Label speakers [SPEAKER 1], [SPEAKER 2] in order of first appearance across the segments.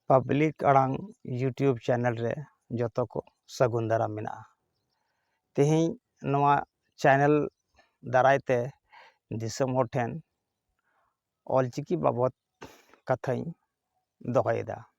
[SPEAKER 1] public ᱟᱲᱟᱝ YouTube channel ᱨᱮ ᱡᱚᱛᱚ ᱠᱚ ᱥᱟᱹᱜᱩᱱ ᱫᱟᱨᱟᱢ ᱢᱮᱱᱟᱜᱼᱟ ᱛᱮᱦᱮᱧ ᱱᱚᱣᱟ ᱪᱮᱱᱮᱞ ᱫᱟᱨᱟᱭ ᱛᱮ ᱫᱤᱥᱚᱢ ᱦᱚᱲ ᱴᱷᱮᱱ ᱚᱞᱪᱤᱠᱤ ᱵᱟᱵᱚᱫ ᱠᱟᱛᱷᱟᱧ ᱫᱚᱦᱚᱭᱮᱫᱟ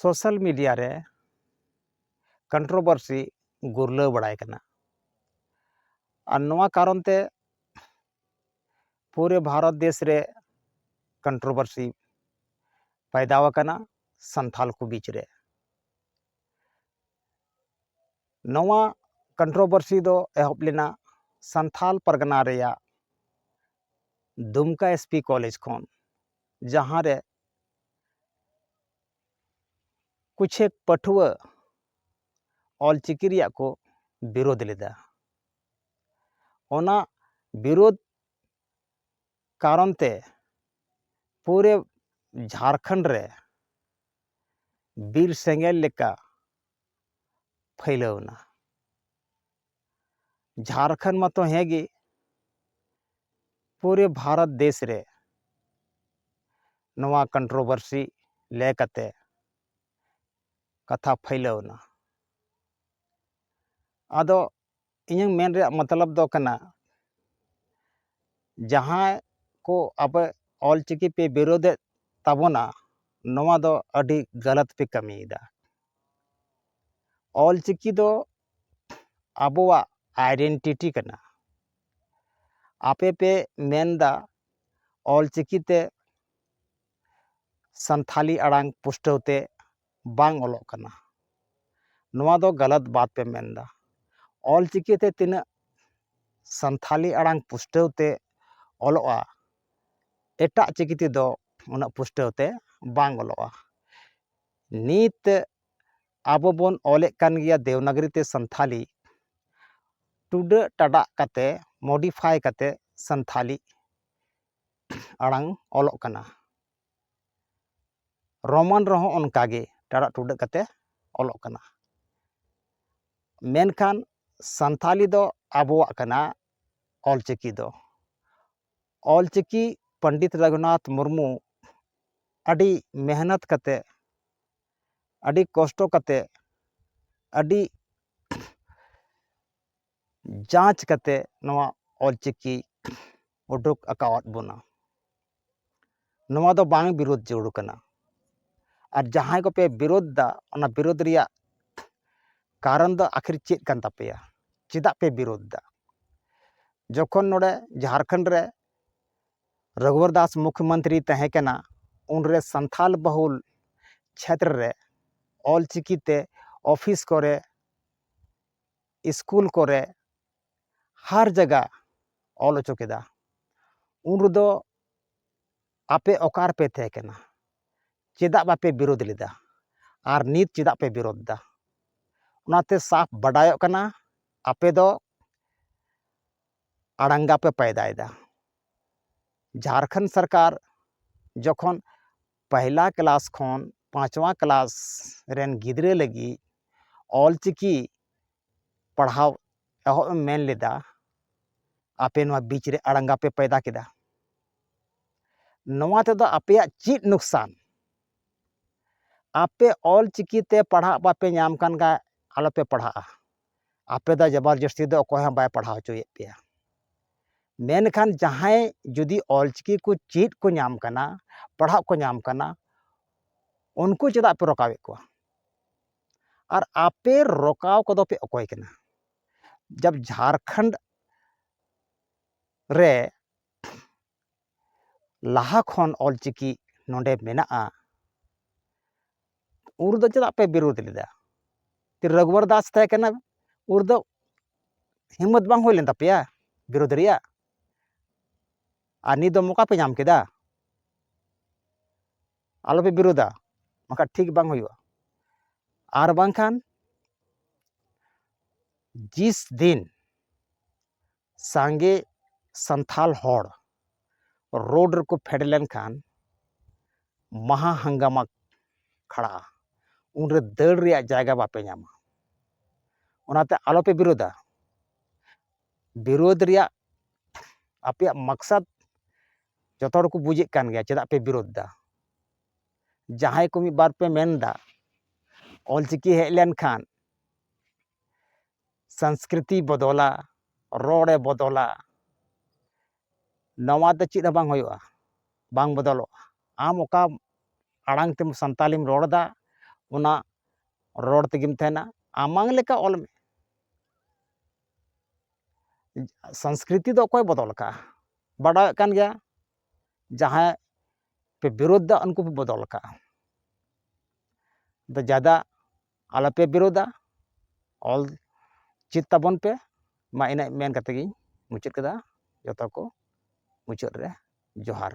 [SPEAKER 1] ᱥᱳᱥᱟᱞ ᱢᱤᱰᱤᱭᱟ ᱨᱮ ᱠᱚᱱᱴᱨᱳᱵᱚᱨᱥᱤ ᱜᱩᱨᱞᱟᱹᱣ ᱵᱟᱲᱟᱭ ᱠᱟᱱᱟ ᱟᱨ ᱱᱚᱣᱟ ᱠᱟᱨᱚᱱ ᱛᱮ ᱯᱩᱨᱟᱹ ᱵᱷᱟᱨᱚᱛ ᱫᱮᱥ ᱨᱮ ᱠᱚᱱᱴᱨᱳᱵᱚᱨᱥᱤ ᱯᱟᱭᱫᱟᱣ ᱟᱠᱟᱱᱟ ᱥᱟᱱᱛᱟᱲ ᱠᱚ ᱵᱤᱪ ᱨᱮ ᱱᱚᱣᱟ ᱠᱚᱱᱴᱨᱳᱵᱚᱨᱥᱤ ᱫᱚ ᱮᱦᱚᱵ ᱞᱮᱱᱟ ᱥᱟᱱᱛᱟᱲ ᱯᱟᱨᱜᱟᱱᱟ ᱨᱮᱭᱟᱜ ᱫᱩᱢᱠᱟ ᱮᱥ ᱯᱤ ᱠᱚᱞᱮᱡᱽ ᱠᱷᱚᱱ ᱡᱟᱦᱟᱸ ᱨᱮ ᱠᱩᱪᱷᱮᱠ ᱯᱟᱹᱴᱷᱩᱣᱟᱹ ᱚᱞ ᱪᱤᱠᱤ ᱨᱮᱭᱟᱜ ᱠᱚ ᱵᱤᱨᱳᱫᱷ ᱞᱮᱫᱟ ᱚᱱᱟ ᱵᱤᱨᱳᱫᱷ ᱠᱟᱨᱚᱱ ᱛᱮ ᱯᱩᱨᱟᱹ ᱡᱷᱟᱲᱠᱷᱚᱸᱰ ᱨᱮ ᱵᱤᱨ ᱥᱮᱸᱜᱮᱞ ᱞᱮᱠᱟ ᱯᱷᱟᱹᱭᱞᱟᱹᱣ ᱮᱱᱟ ᱡᱷᱟᱨᱠᱷᱚᱸᱰ ᱢᱟᱛᱚ ᱦᱮᱸ ᱜᱮ ᱯᱩᱨᱟᱹ ᱵᱷᱟᱨᱚᱛ ᱫᱮᱥ ᱨᱮ ᱱᱚᱣᱟ ᱠᱚᱱᱴᱨᱳᱵᱷᱟᱨᱥᱤ ᱞᱮ ᱠᱟᱛᱮ ᱠᱟᱛᱷᱟ ᱯᱷᱟᱹᱭᱞᱟᱹᱣ ᱮᱱᱟ ᱟᱫᱚ ᱤᱧᱟᱹᱝ ᱢᱮᱱ ᱨᱮᱭᱟᱜ ᱢᱚᱛᱞᱚᱵ ᱫᱚ ᱠᱟᱱᱟ ᱡᱟᱦᱟᱸᱭ ᱠᱚ ᱟᱯᱮ ᱚᱞ ᱪᱤᱠᱤ ᱯᱮ ᱵᱤᱨᱳᱫᱮᱫ ᱛᱟᱵᱚᱱᱟ ᱱᱚᱣᱟ ᱫᱚ ᱟᱹᱰᱤ ᱜᱟᱞᱟᱛ ᱯᱮ ᱠᱟᱹᱢᱤᱭᱮᱫᱟ ᱚᱞ ᱪᱤᱠᱤ ᱫᱚ ᱟᱵᱚᱣᱟᱜ ᱟᱭᱰᱮᱱᱴᱤᱴᱤ ᱠᱟᱱᱟ ᱟᱯᱮ ᱯᱮ ᱢᱮᱱᱫᱟ ᱚᱞᱪᱤᱠᱤ ᱛᱮ ᱥᱟᱱᱛᱷᱟᱞᱤ ᱟᱲᱟᱝ ᱯᱩᱥᱴᱟᱹᱣ ᱛᱮ ᱵᱟᱝ ᱚᱞᱚᱜ ᱠᱟᱱᱟ ᱱᱚᱣᱟ ᱫᱚ ᱜᱟᱞᱟᱛ ᱵᱟᱛ ᱯᱮ ᱢᱮᱱᱫᱟ ᱚᱞᱪᱤᱠᱤ ᱛᱮ ᱛᱤᱱᱟᱹᱜ ᱥᱟᱱᱛᱷᱟᱞᱤ ᱟᱲᱟᱝ ᱯᱩᱥᱴᱟᱹᱣ ᱛᱮ ᱚᱞᱚᱜᱼᱟ ᱮᱴᱟᱜ ᱪᱤᱠᱤ ᱛᱮᱫᱚ ᱩᱱᱟᱹᱜ ᱯᱩᱥᱴᱟᱹᱣ ᱛᱮ ᱵᱟᱝ ᱚᱞᱚᱜᱼᱟ ᱱᱤᱛ ᱟᱵᱚ ᱵᱚᱱ ᱚᱞᱮᱫ ᱠᱟᱱ ᱜᱮᱭᱟ ᱫᱮᱵᱽᱱᱟᱜᱚᱨᱤ ᱛᱮ ᱥᱟᱱᱛᱷᱟᱞᱤ ᱴᱩᱰᱟᱹᱜ ᱴᱟᱰᱟᱜ ᱠᱟᱛᱮ ᱢᱳᱰᱤᱯᱷᱟᱭ ᱠᱟᱛᱮ ᱥᱟᱱᱛᱷᱟᱞᱤ ᱟᱲᱟᱝ ᱚᱞᱚᱜ ᱠᱟᱱᱟ ᱨᱳᱢᱟᱱ ᱨᱮᱦᱚᱸ ᱚᱱᱠᱟ ᱜᱮ ᱴᱟᱰᱟᱜ ᱴᱩᱰᱟᱹᱜ ᱠᱟᱛᱮ ᱚᱞᱚᱜ ᱠᱟᱱᱟ ᱢᱮᱱᱠᱷᱟᱱ ᱥᱟᱱᱛᱷᱟᱞᱤ ᱫᱚ ᱟᱵᱚᱣᱟᱜ ᱠᱟᱱᱟ ᱚᱞ ᱪᱤᱠᱤ ᱫᱚ ᱚᱞ ᱪᱤᱠᱤ ᱯᱚᱱᱰᱤᱛ ᱨᱟᱹᱜᱷᱩᱱᱟᱛᱷ ᱢᱩᱨᱢᱩ ᱟᱹᱰᱤ ᱢᱮᱦᱱᱚᱛ ᱠᱟᱛᱮ ᱟᱹᱰᱤ ᱠᱚᱥᱴᱚ ᱠᱟᱛᱮ ᱟᱹᱰᱤ ᱡᱟᱸᱪ ᱠᱟᱛᱮ ᱱᱚᱣᱟ ᱚᱞ ᱪᱤᱠᱤ ᱩᱰᱩᱠ ᱟᱠᱟᱣᱟᱫ ᱵᱚᱱᱟ ᱱᱚᱣᱟ ᱫᱚ ᱵᱟᱝ ᱵᱤᱨᱳᱫ ᱡᱟᱹᱨᱩᱲ ᱠᱟᱱᱟ ᱟᱨ ᱡᱟᱦᱟᱸᱭ ᱠᱚᱯᱮ ᱵᱤᱨᱳᱫ ᱫᱟ ᱚᱱᱟ ᱵᱤᱨᱳᱫ ᱨᱮᱭᱟᱜ ᱠᱟᱨᱚᱱ ᱫᱚ ᱟᱠᱷᱤᱨ ᱪᱮᱫ ᱠᱟᱱ ᱛᱟᱯᱮᱭᱟ ᱪᱮᱫᱟᱜ ᱯᱮ ᱵᱤᱨᱳᱫ ᱫᱟ ᱡᱚᱠᱷᱚᱱ ᱱᱚᱰᱮ ᱡᱷᱟᱲᱠᱷᱚᱸᱰ ᱨᱮ ᱨᱚᱜᱷᱩᱵᱚᱨ ᱫᱟᱥ ᱢᱩᱠᱷ ᱢᱚᱱᱛᱨᱤᱭ ᱛᱟᱦᱮᱸ ᱠᱟᱱᱟ ᱩᱱᱨᱮ ᱥᱟᱱᱛᱷᱟᱞ ᱵᱟᱹᱦᱩᱞ ᱪᱷᱮᱛᱨᱚ ᱨᱮ ᱚᱞ ᱪᱤᱠᱤ ᱛᱮ ᱚᱯᱷᱤᱥ ᱠᱚᱨᱮ ᱤᱥᱠᱩᱞ ᱠᱚᱨᱮ ᱦᱟᱨ ᱡᱟᱭᱜᱟ ᱚᱞ ᱚᱪᱚ ᱠᱮᱫᱟ ᱩᱱ ᱨᱮᱫᱚ ᱟᱯᱮ ᱚᱠᱟ ᱨᱮᱯᱮ ᱛᱟᱦᱮᱸ ᱠᱟᱱᱟ ᱪᱮᱫᱟᱜ ᱵᱟᱯᱮ ᱵᱤᱨᱳᱫᱷ ᱞᱮᱫᱟ ᱟᱨ ᱱᱤᱛ ᱪᱮᱫᱟᱜ ᱯᱮ ᱵᱤᱨᱳᱫᱷ ᱮᱫᱟ ᱚᱱᱟᱛᱮ ᱥᱟᱯ ᱵᱟᱰᱟᱭᱚᱜ ᱠᱟᱱᱟ ᱟᱯᱮ ᱫᱚ ᱟᱲᱟᱝᱜᱟ ᱯᱮ ᱯᱟᱭᱫᱟᱭᱮᱫᱟ ᱡᱷᱟᱨᱠᱷᱚᱸᱰ ᱥᱚᱨᱠᱟᱨ ᱡᱚᱠᱷᱚᱱ ᱯᱟᱦᱞᱟ ᱠᱞᱟᱥ ᱠᱷᱚᱱ ᱯᱟᱸᱪᱣᱟ ᱠᱞᱟᱥ ᱨᱮᱱ ᱜᱤᱫᱽᱨᱟᱹ ᱞᱟᱹᱜᱤᱫ ᱚᱞ ᱪᱤᱠᱤ ᱯᱟᱲᱦᱟᱣ ᱮᱦᱚᱵ ᱮᱢ ᱢᱮᱱ ᱞᱮᱫᱟ ᱟᱯᱮ ᱱᱚᱣᱟ ᱵᱤᱪ ᱨᱮ ᱟᱲᱟᱝᱜᱟ ᱯᱮ ᱯᱟᱭᱫᱟ ᱠᱮᱫᱟ ᱱᱚᱣᱟ ᱛᱮᱫᱚ ᱟᱯᱮᱭᱟᱜ ᱪᱮᱫ ᱱᱩᱠᱥᱟᱱ ᱟᱯᱮ ᱚᱞ ᱪᱤᱠᱤᱛᱮ ᱯᱟᱲᱦᱟᱜ ᱵᱟᱯᱮ ᱧᱟᱢ ᱠᱟᱱ ᱠᱷᱟᱱ ᱟᱞᱚᱯᱮ ᱯᱟᱲᱦᱟᱜᱼᱟ ᱟᱯᱮ ᱫᱚ ᱡᱟᱵᱟᱨ ᱡᱟᱹᱥᱛᱤ ᱫᱚ ᱚᱠᱚᱭ ᱦᱚᱸ ᱵᱟᱭ ᱯᱟᱲᱦᱟᱣ ᱦᱚᱪᱚᱭᱮᱫ ᱯᱮᱭᱟ ᱢᱮᱱᱠᱷᱟᱱ ᱡᱟᱦᱟᱸᱭ ᱡᱩᱫᱤ ᱚᱞᱪᱤᱠᱤ ᱠᱚ ᱪᱮᱫ ᱠᱚ ᱧᱟᱢ ᱠᱟᱱᱟ ᱯᱟᱲᱦᱟᱜ ᱠᱚ ᱧᱟᱢ ᱠᱟᱱᱟ ᱩᱱᱠᱩ ᱪᱮᱫᱟᱜ ᱯᱮ ᱨᱚᱠᱟᱣᱮᱫ ᱠᱚᱣᱟ ᱟᱨ ᱟᱯᱮ ᱨᱚᱠᱟᱣ ᱠᱚᱫᱚ ᱯᱮ ᱚᱠᱚᱭ ᱠᱟᱱᱟ ᱡᱟᱵ ᱡᱷᱟᱲᱠᱷᱚᱸᱰ ᱨᱮ ᱞᱟᱦᱟ ᱠᱷᱚᱱ ᱚᱞᱪᱤᱠᱤ ᱱᱚᱰᱮ ᱢᱮᱱᱟᱜᱼᱟ ᱩᱱ ᱨᱮᱫᱚ ᱪᱮᱫᱟᱜ ᱯᱮ ᱵᱤᱨᱳᱫᱷ ᱞᱮᱫᱟ ᱨᱚᱜᱷᱩᱵᱟᱨ ᱫᱟᱥ ᱛᱟᱦᱮᱸ ᱠᱟᱱᱟ ᱩᱱ ᱨᱮᱫᱚ ᱦᱤᱢᱢᱚᱛ ᱵᱟᱝ ᱦᱩᱭ ᱞᱮᱱ ᱛᱟᱯᱮᱭᱟ ᱵᱤᱨᱳᱫᱷ ᱨᱮᱭᱟᱜ ᱟᱨ ᱱᱤᱛ ᱫᱚ ᱢᱚᱠᱟ ᱯᱮ ᱧᱟᱢ ᱠᱮᱫᱟ ᱟᱞᱚ ᱯᱮ ᱵᱤᱨᱳᱫᱷᱟ ᱵᱟᱝᱠᱷᱟᱱ ᱴᱷᱤᱠ ᱵᱟᱝ ᱦᱩᱭᱩᱜᱼᱟ ᱟᱨ ᱵᱟᱝᱠᱷᱟᱱ ᱡᱤᱥ ᱫᱤᱱ ᱥᱟᱸᱜᱮ ᱥᱟᱱᱛᱟᱲ ᱦᱚᱲ ᱨᱳᱰ ᱨᱮᱠᱚ ᱯᱷᱮᱰ ᱞᱮᱱᱠᱷᱟᱱ ᱢᱟᱦᱟ ᱦᱟᱝᱜᱟᱢᱟ ᱠᱷᱟᱲᱟᱜᱼᱟ ᱩᱱᱨᱮ ᱫᱟᱹᱲ ᱨᱮᱭᱟᱜ ᱡᱟᱭᱜᱟ ᱵᱟᱯᱮ ᱧᱟᱢᱟ ᱚᱱᱟᱛᱮ ᱟᱞᱚᱯᱮ ᱵᱤᱨᱳᱫᱟ ᱵᱤᱨᱳᱫ ᱨᱮᱭᱟᱜ ᱟᱯᱮᱭᱟᱜ ᱢᱟᱠᱥᱟᱫ ᱡᱚᱛᱚ ᱦᱚᱲ ᱠᱚ ᱵᱩᱡᱮᱫ ᱠᱟᱱ ᱜᱮᱭᱟ ᱪᱮᱫᱟᱜ ᱯᱮ ᱵᱤᱨᱳᱫ ᱮᱫᱟ ᱡᱟᱦᱟᱸᱭ ᱠᱚ ᱢᱤᱫ ᱵᱟᱨ ᱯᱮ ᱢᱮᱱ ᱮᱫᱟ ᱚᱞᱪᱤᱠᱤ ᱦᱮᱡ ᱞᱮᱱᱠᱷᱟᱱ ᱥᱚᱝᱥᱠᱨᱤᱛᱤᱭ ᱵᱚᱫᱚᱞᱟ ᱨᱚᱲᱮ ᱵᱚᱫᱚᱞᱟ ᱱᱚᱣᱟ ᱫᱚ ᱪᱮᱫ ᱦᱚᱸ ᱵᱟᱝ ᱦᱩᱭᱩᱜᱼᱟ ᱵᱟᱝ ᱵᱚᱫᱚᱞᱚᱜᱼᱟ ᱟᱢ ᱚᱠᱟ ᱟᱲᱟᱝ ᱛᱮᱢ ᱥᱟᱱᱛᱟᱲᱤᱢ ᱨᱚᱲ ᱮᱫᱟ ᱚᱱᱟ ᱨᱚᱲ ᱛᱮᱜᱮᱢ ᱛᱟᱦᱮᱱᱟ ᱟᱢᱟᱝ ᱞᱮᱠᱟ ᱚᱞ ᱢᱮ ᱥᱚᱝᱥᱠᱨᱤᱛᱤ ᱫᱚ ᱚᱠᱚᱭ ᱵᱚᱫᱚᱞ ᱟᱠᱟᱫᱼᱟ ᱵᱟᱰᱟᱭᱚᱜ ᱠᱟᱱ ᱜᱮᱭᱟ ᱡᱟᱦᱟᱸᱭ ᱯᱮ ᱵᱤᱨᱳᱫᱷ ᱮᱫᱟ ᱩᱱᱠᱩ ᱯᱮ ᱵᱚᱫᱚᱞ ᱟᱠᱟᱫᱼᱟ ᱟᱫᱚ ᱡᱟᱫᱟ ᱟᱞᱚᱯᱮ ᱵᱤᱨᱳᱫᱟ ᱚᱞ ᱪᱮᱫ ᱛᱟᱵᱚᱱ ᱯᱮ ᱢᱟ ᱤᱱᱟᱹᱜ ᱢᱮᱱ ᱠᱟᱛᱮ ᱜᱤᱧ ᱢᱩᱪᱟᱹᱫ ᱠᱮᱫᱟ ᱡᱚᱛᱚ ᱠᱚ ᱢᱩᱪᱟᱹᱫ ᱨᱮ ᱡᱚᱦᱟᱨ